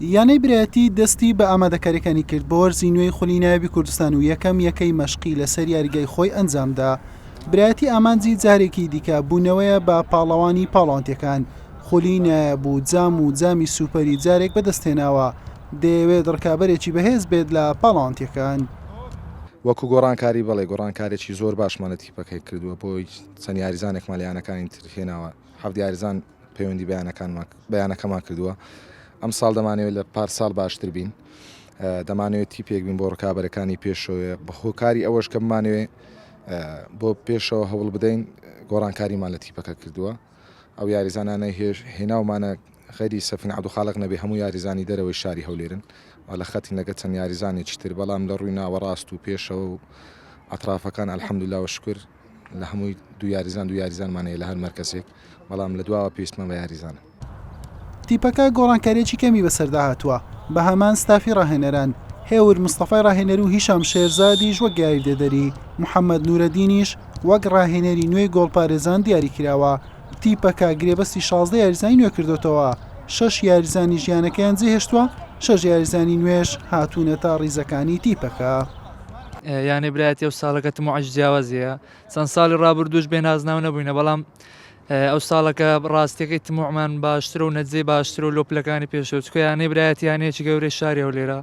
یانەی برایەتی دەستی بە ئامادەکاریەکانی کرد بۆ وەرزی نوێی خولی نایبی کوردستان و یەکەم یەکەی مەشقی لەسەر یاریگای خۆی ئەنجامدا برایەتی ئامانجی جارێکی دیکە بوونەوەیە بە پاڵەوانی پاڵانتەکان خولی نایب و جام و جامی سوپەری جارێک بەدەستێناوە دەیەوێت ڕکابەرێکی بەهێز بێت لە پاڵانتەکان. وەکو گۆڕانکاری بەڵێ گۆڕانکارێکی زۆر باشمانە تیپەکەی کردووە بۆی چەند یاریزانێکمان لە یانەکانی تر هێناوە حەفت یاریزان پەیوەندی بەیانەکەمان کردووە ئەمساڵ دەمانەوێت لە پارساڵ باشتر بین دەمانەوێت تیپێک بین بۆ ڕکابەرەکانی پێشەوەێ بەخۆکاری ئەوەش کە بمانوێ بۆ پێشەوە هەوڵ بدەین گۆڕانکاریمان لە تیپەکە کردووە ئەو یاریزانانە هێش هێناومانە خەری سەفین عبدو خاڵق نەبێ هەموو یاریزانی دەرەوەی شاری هەولێرن و لە خەتی نەگە چەند یاریزانێکی تر بەڵام لە ڕووی ناوەڕاست و پێشەوە و ئەطرافەکان الحەمدللا و شکر لە هەمووی دو یاریزان دو یاریزانمان هەیە لە هەر مەرکەزێک بەڵام لە دواوە پێویستمان بە یاریزانە. تیپەکە گۆڕانکارییەکی کەمی بەسەردا هاتووە، بە هەمان ستافی راهێنەران، هێور مستەفای راهێنەر و هیشام شێرزادیش وەک یاریدەدەری، محەمەد نورەدینیش وەک راهێنەری نوێی گۆڵپارێزان دیاریکراوە. تیپەکە گرێبەستی شازدە یاریزانی نوێ کردۆتەوە، شەش یاریزانی ژیانەکەیان جێهێشتووە، شەش یاریزانی نوێش هاتوونەتە ریزەکانی تیپەکە. یانەی برایەتی ئەو ساڵەکە تموعش جیاوازیە چەند ساڵی ڕابردوش بێ نازناو نەبووینە بەڵام ئەو ساڵەکە ڕاستەکەی تموعمان باشتر و نەجێ باشتر و لۆپلەکانی پێشەوە چکە یانەی برایەتی یانەیەکی گەورەی شاری ئەو لێرە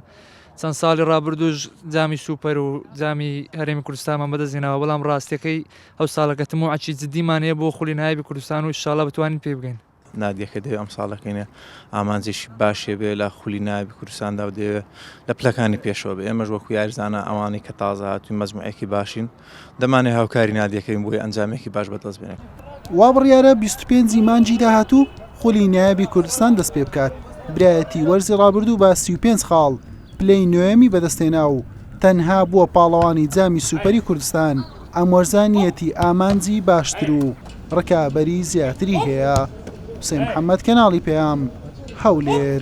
چەند ساڵی ڕابردوش جامی سوپەر و جامی هەرێمی کوردستانمان بەدەستێنەوە بەڵام ڕاستەکەی ئەو ساڵەکە تموعکی جدیمانەیە بۆ خولی نایبی کوردستان و شاڵە بتوانین پێ بگەین نادیەکە دەوێ ئەمساڵەکەی ئامانجێکی باش هەبێ لە خولی نایابی کوردستاندا و دەوێ لە پلەکانی پێشەوە بێ ئێمەش وەکو یاریزانە ئەوانەی کە تازە هاتووی مەزموعێکی باشین دەمانێ هاوکاری نادیەکەین بۆی ئەنجامێکی باش بەدەست بێنێت وا بڕیارە 25 ی مانگی داهاتوو خولی نایابی کوردستان دەست پێ بکات برایەتی وەرزی ڕابردوو بە 35 خاڵ پلەی نۆیەمی بەدەستهێنا و تەنها بووە پاڵەوانی جامی سوپەری کوردستان. ئەم وەرزە نیەتی ئامانجی باشتر و ڕکابەری زیاتری هەیە، حوسێن محەمەد، کەناڵی پەیام، هەولێر.